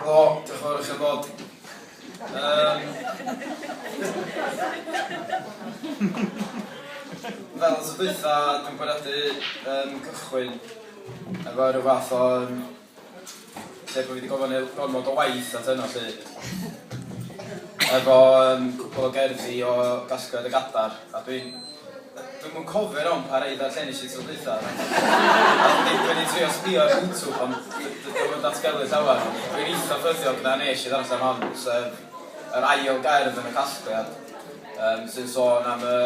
O, diolch yn fawr i chi bod. Um, fel os ydwytha, dwi'n bwriadu um, cychwyn efo rhyw fath o... Um, lle bod fi wedi gofyn i'r gormod o waith at yno lle. Efo um, cwpl o gerddi o gasgliad y gadar, a dwi'n Dwi'm yn cofio yn iawn pa rei ddarllenis i tro dwytha, ond dwi wedi trio sbio ar YouTube ond d- d- dwi'm yn datgelu llawer. Dwi'n eitha ffyddiog na nes i ddarllen hon, sef yr ail gerdd yn y casgliad, yym, sy'n sôn am y...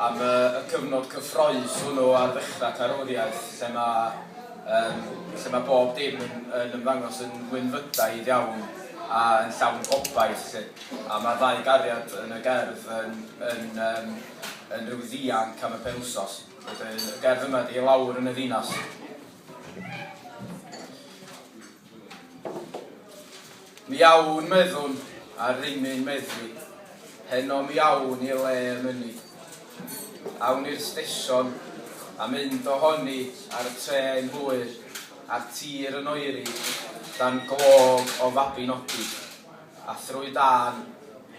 am y... y cyfnod cyffrous hwnnw ar ddechrau carwriaeth, lle ma', yym, lle ma' bob dim yn yn ymddangos yn wynfydaidd iawn a yn llawn gobaith 'lly. A mae'r ddau gariad yn y gerdd yn yn yym yn rhyw ddianc am y penwsos. Wedyn y gerdd yma ydi 'I lawr yn y ddinas'. Mi awn, meddwn, ar rymu'n meddwi, heno mi awn i le y mynni. Awn i'r stesion, a mynd o honi ar y trên hwyr, a'r tir yn oeri, dan glog o Fabinogi. A thrwy dân,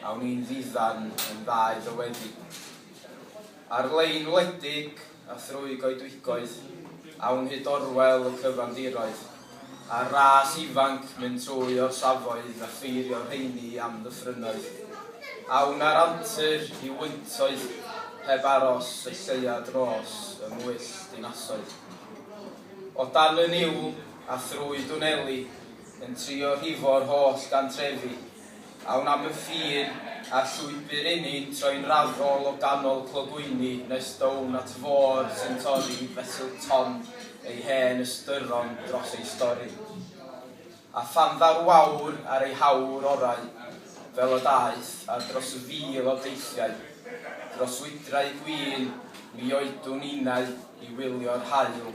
awn i'n ddiddan yn ddau ddywedig. Ar-lein wledig, a thrwy goedwigoedd, awn hyd orwel y cyfandiroedd, a'r ras ifanc mynd trwy orsafoedd a pheirio rheini i amddyffrynnoedd. Awn â'r antur i wyntoedd, heb aros y lleia dros y mwyll dinasoedd. O dan y niwl, a thrwy dwneli, yn trio rhifo'r holl gantrefi, a wna fy ffin a'r llwybr inni'n troi'n raddol o ganol clogwyni nes down at y fôr sy'n torri fesul Tom ei hen ystyron dros ei stori. A phan ddaru wawr ar ei hawr orau, fel y daeth, a dros y fil o deithiau, dros wydrau gwin, mi oedwn innau i wylio'r haul,